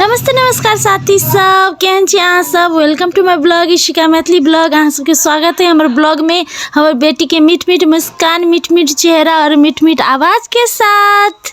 नमस्ते नमस्कार साथी सब केहन छी अहाँ सब welcome to my blog Ishika Maithili blog अहाँ सबके स्वागत है हमर ब्लॉग में हमर बेटी के मीठ मीठ मुस्कान मीठ मीठ चेहरा और मीठ मीठ आवाज के साथ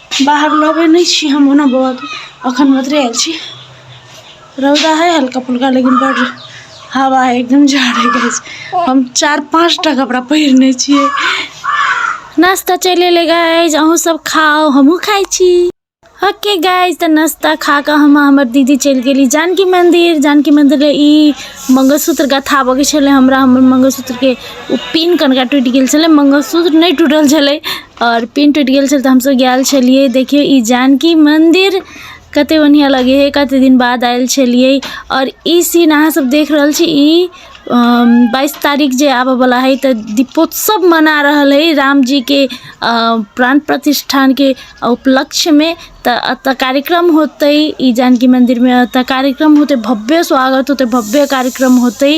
बाहर लबै नहि छी हम ओना बौआके अखन मधुरे आयल छी रौदा है हल्का फुल्का लेकिन बड हवा है एकदम जाड़े के हम चार पाँच टा कपड़ा पहिरने छियै नाश्ता चलि एलै गाइज अहूँ सब खाओ हमहूँ खाइ छी ओके गाइज तऽ नाश्ता खा कऽ हम हमर दीदी चलि गेली जानकी मन्दिर जानकी मन्दिर ई मङ्गलसूत्र गथाबऽके छलै हमरा हमर मङ्गलसूत्रके ओ पिन कनिका टूटि गेल छलै मङ्गलसूत्र नहि टूटल छलै आओर पिन टूटि गेल छल तऽ हमसभ गेल छलियै देखियै ई जानकी मन्दिर कतेक बढ़िआँ लगै हइ कतेक दिन बाद आयल छलियै आओर ई सीन अहाँसभ देख रहल छी ई बाइस तारीख जे आबयवला हइ तऽ दीपोत्सव मना रहल हइ रामजीके प्राण प्रतिष्ठाके उपलक्ष्यमे तऽ एतय कार्यक्रम होतै ई जानकी मन्दिरमे एतय कार्यक्रम होतै भव्य स्वागत होतै भव्य कार्यक्रम होतै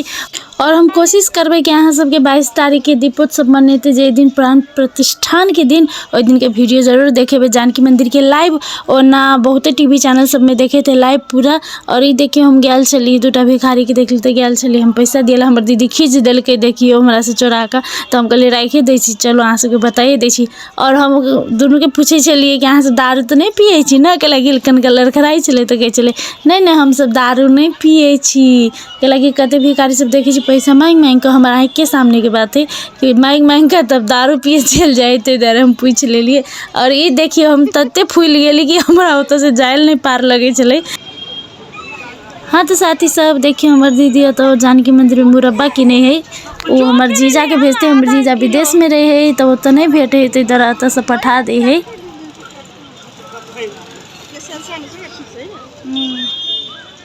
आओर हम कोशिश करबै कि अहाँ सबके बाइस तारीखके दीपोत्सव मनेतै जाहि दिन प्राण प्रतिष्ठानके दिन ओहि दिनके वीडियो जरूर देखेबै जानकी मन्दिरके लाइव ओना बहुते टी वी चैनल सबमे देखेतै लाइव पूरा आओर ई देखियौ हम गेल छलियै दूटा भिखारीके देखली तऽ गेल छलियै हम पैसा दियला हमर दीदी खीच देलकै देखियौ हमरासँ चोरा कऽ तऽ हम कहलियै राखि दै छी चलू अहाँ सबके बताइए दै छी आओर हम दुनूके पूछै छलियै कि अहाँ सब दारू तऽ नहि पियै छी ने कहलक कनका लड़खड़ाइ छलै तऽ कहै छलै नहि नहि हमसब दारू नहि पियै छी कैलाकि कतेक भिखारी सब देखै छी पैसा माँगि माँगि कऽ हमर आँखिके सामनेके बात हय कि माँगि माँगि कऽ तब दारू पीयै चलि जाइ हय तै दुआरे हम पुछि लेलियै आओर ई देखियौ हम तते फुलि गेलियै कि हमरा ओतऽसँ जाइ लए नहि पार लगै छलै हँ तऽ साथी सब देखियौ हमर दीदी ओतऽ जानकी मन्दिरमे मुरब्बा किनै हय ओ हमर जीजाके भेजतै हमर जीजा विदेशमे रहै हय तऽ ओतऽ नहि भेटै हय तै दुआरे एतऽसँ पठा दै हय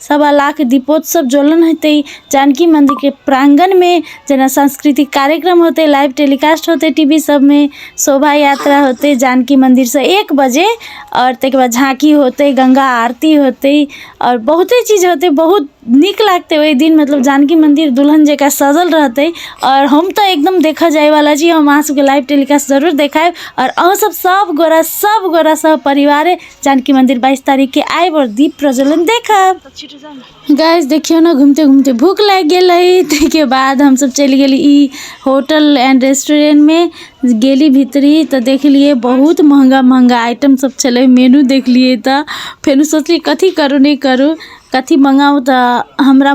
सवा लाख दीपोत्सव जलन हेतै जानकी मन्दिरके प्राङ्गणमे जेना सांस्कृतिक कार्यक्रम होतै लाइव टेलीकास्ट होतै टी वी सभमे शोभा यात्रा होतै जानकी मन्दिरसँ एक बजे आओर ताहिके बाद झाँकी होतै गङ्गा आरती होतै आओर बहुते चीज होतै बहुत नीक लागतै ओहि दिन मतलब जानकी मन्दिर दुलहन जकाँ सजल रहतै आओर हम तऽ एकदम देखय जायवला छी हम अहाँसभके लाइव टेलीकास्ट जरूर देखायब आओर अहूँसभ सभगोटए सभगोटए सभ परिवारे जानकी मन्दिर बाइस तारिखके आएब आओर दीप प्रज्वलन देखब गैस देखियौ ने घुमिते घुमिते भूख लागि गेल रही ताहिके बाद हमसभ चलि गेली ई होटल एंड रेस्टोरेंटमे गेली भीतरी तऽ देखलियै बहुत महंगा महंगा आइटम सब छलै मेनू देखलियै तऽ फेर सोचलियै कथी करू नहि करू कथी मङ्गाउ तऽ हमरा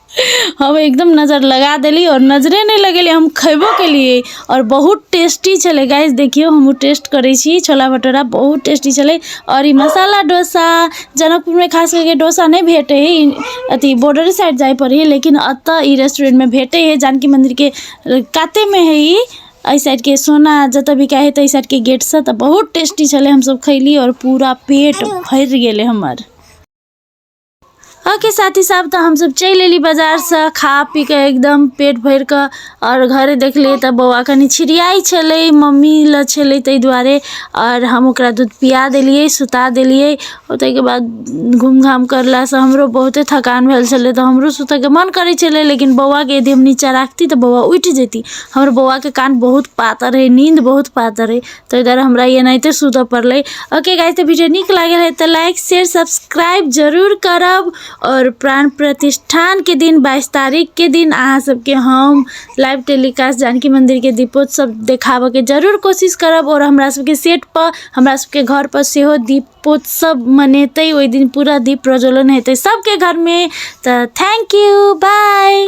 हम एकदम नजर लगा देली और नजरे नहीं लगेली हम खैबो केलिए और बहुत टेस्टी छले गाइस देखियो हम टेस्ट करे छी छोला भटूरा बहुत टेस्टी छले और ई मसाला डोसा जनकपुर में खास करके डोसा नहीं भेटे है अथी बॉर्डर साइड जाए पड़ी लेकिन अत ई रेस्टोरेंट में भेटे है जानकी मंदिर के काते में है ई एहि साइडके सोना जतऽ भी कहै तऽ एहि साइडके गेटसँ तऽ बहुत टेस्टी छलै हमसभ खैली आओर पूरा पेट भरि गेलै हमर ओके साथी सब तऽ हमसब चलि अयली बाजारसँ खा पी कऽ एकदम पेट भरि कऽ आओर घरे देखलियै तऽ बौआ कनि छिड़ियाइ छलै मम्मी लऽ छलै ताहि दुआरे आओर हम ओकरा दूध पिया देलियै सुता देलियै आओर ताहिके बाद घूम घाम करलासँ हमरो बहुते थकान भेल छलै तऽ हमरो सुतैके मन करै छलै लेकिन बौआके यदि हम नीचाँ राखती तऽ बौआ उठि जैती हमर बौआके कान बहुत पातर अइ नीन्द बहुत पातर अइ तऽ ओहि दुआरे हमरा ई एनाहिते सुतऽ पड़लै ओके गाइस तऽ वीडियो नीक लागल है तऽ लाइक शेयर सब्सक्राइब जरूर करब आओर प्राण प्रतिष्ठानके दिन बाइस तारीखके दिन अहाँ सबके हम लाइव टेलीकास्ट जानकी मन्दिरके दीपोत्सव देखाबऽके जरूर कोशिश करब आओर हमरा सबके सेट पर हमरा सबके घर पर सेहो दीपोत्सव मनेतै ओहि दिन पूरा दीप प्रज्वलन हेतै सबके घरमे तऽ थैंक यू बाय